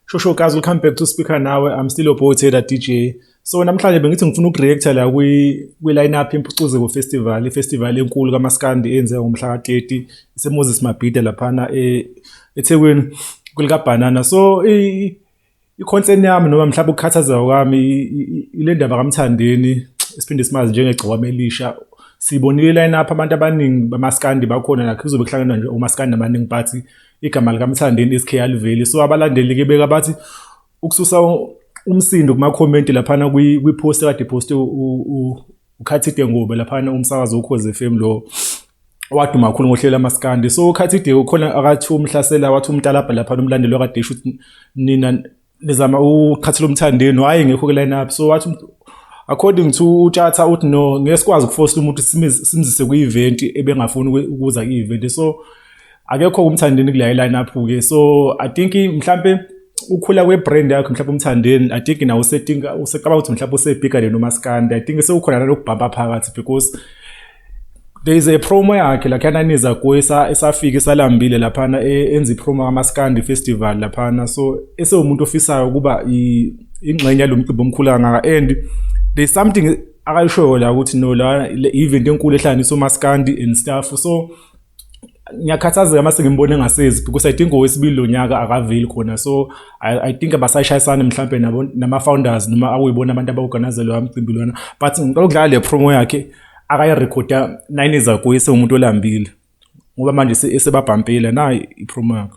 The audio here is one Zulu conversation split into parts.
Shosho guys, we'll come back to speaker nawe. I'm still your boy Taylor DJ. So namhlanje bengithi ngifuna ukureacta la kwi kwi lineup impucuzeko festival, ifestival enkulu kaMaskandi eyenziwa ngomhla ka-30 iseMoses Mabhida laphana e eThekwini kulika Banana. So i i-concern yami noma mhlawumbe ukukhathazeka kwami ile ndaba kamthandeni esiphinde simazi njengegciwame elisha sibonile iline up abantu abaningi bamaskandi bakhona nakho kuzobe kuhlangana nje omaskandi abaningi but igama likamthandeni isk aliveli so abalandeli ke beka bathi ukususa umsindo kumakhomenti laphana kwi-post kade poste ukhathide ngobe laphana umsakazo wokhoze FM lo waduma kakhulu ngohlelo amaskandi so ukhathide ukhona akathi umhlasela wathi umtalabha lapha nomlandeli wakade esho ukuthi nina nizama uqhathela umthandeni hayi ngekho ke line up so wathi according to utshatha uthi no ngeke sikwazi ukufosta umuntu simzise kwi-event ebengafuni ukuza kwi-event so akekho umthandeni kule line up ke so i think mhlambe ukhula kwebrand yakhe mhlawumbe umthandeni i think nawo usetinka usecabanga ukuthi mhlawumbe usebigger than umaskandi i think sewukhona nalokubhamba phakathi because there is a promo yakhe lakhana niza kuyo esafika isalambile laphana e, enza ipromo kamaskandi festival laphana so esewumuntu ofisayo ukuba ingxenye yalo mcimbi omkhulu kangaka and there is something akayishoyo la ukuthi no la i-event enkulu ehlanganisa umaskandi and stuff so ngiyakhathazeka mase ngimbona engasezi because i think owesibili lo nyaka akaveli khona so i, I think abasayishayisane mhlawumbe nabo nama-founders noma akuyibona abantu abaorganize loya mcimbi lona but ngicela ukudlala le promo yakhe akayirekhoda nine ezakuye sewumuntu olambile ngoba manje esebabhampile nayi ipromo yakhe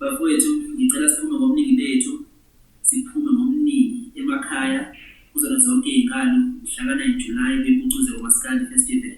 Bafowethu ngicela siphume ngobuningi bethu siphume ngobuningi emakhaya kuzona zonke iy'nkalo mhlaka 9 July bempucuze umaskandi festival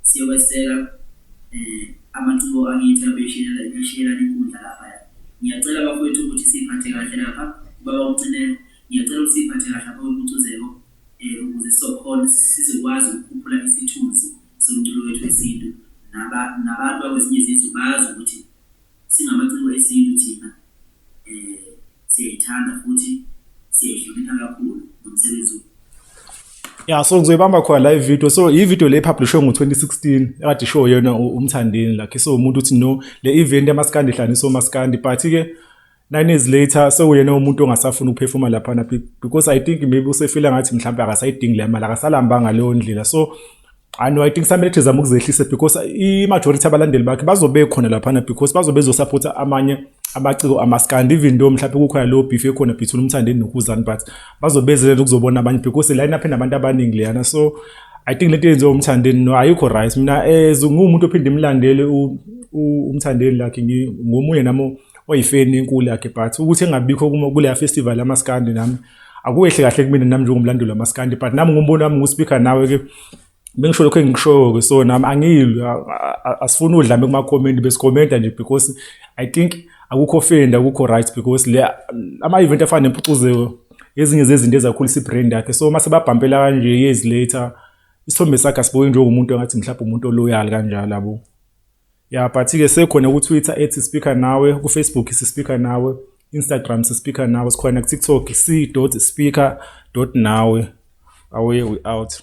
siyokweseka um amaciko akithi abeshilela eshiyelan inkundla lapha ngiyacela bafowethu ukuthi siyiphathe kahle lapha ubaba umcinelo ngiyacela ukuthi siyiphathe kahle lapha kwempucuzeko um ukuze sizokhona sizokwazi ukukhuphula isithunzi somculo wethu wesintu nabantu bakwezinye izizwe bazi ukuthi Singamaciko esintu thina siyayithanda futhi siyayihlonipha kakhulu nomsebenzi ya so ngizoyibamba khona la ivideo so ivideo le publishwe ngo-2016 ekade ishow yena umthandeni lakhe so umuntu uthi no le event yamaskandi ihlanisa omaskandi but-ke nine years later sewuyena umuntu ongasafuni ukuphefuma laphana because i think maybe usefila ngathi mhlawumbe akasayidingi le mali akasalambanga leyo ndlela so and i think samele thizama ukuzehlise because i-majority abalandeli bakhe bazobe khona laphana because bazobe bezosapotha amanye amaciko amaskandi even though mhlawumbe kukhona leyo beef ekhona between umthandeni nokuzani but bazobezelela ukuzobona abanye because line up enabantu abaningi leyana so i think lento yenziwa umthandeni no ayikho right mina as nguwumuntu ophinde imlandele umthandeni lakhe ngomunye nami oyifeni enkulu yakhe but ukuthi engabikho kuleya festival yamaskandi nami akuwehle kahle kumina nami njengomlandeli wamaskandi but nami ngumbono wami nguspeaker nawe ke bengisho lokho engishoyo ke so nami angilwi asifuni udlame kuma comment besikhomenta nje because i think akukho fenda akukho right because le ama event afana nempucuzeko ezinye zezinto ezakhulisa ibrand yakhe so mase babhampela kanje years later isithombe sakhe asibuke njengomuntu engathi mhlawumbe umuntu oloyal kanjalo abo ya yeah, but-ke sekhona ku-twitter ethi speaker nawe ku-facebook sispeaker nawe instagram sispeaker nawe sikhona ku-tiktok c dot speaker dot nawe away we out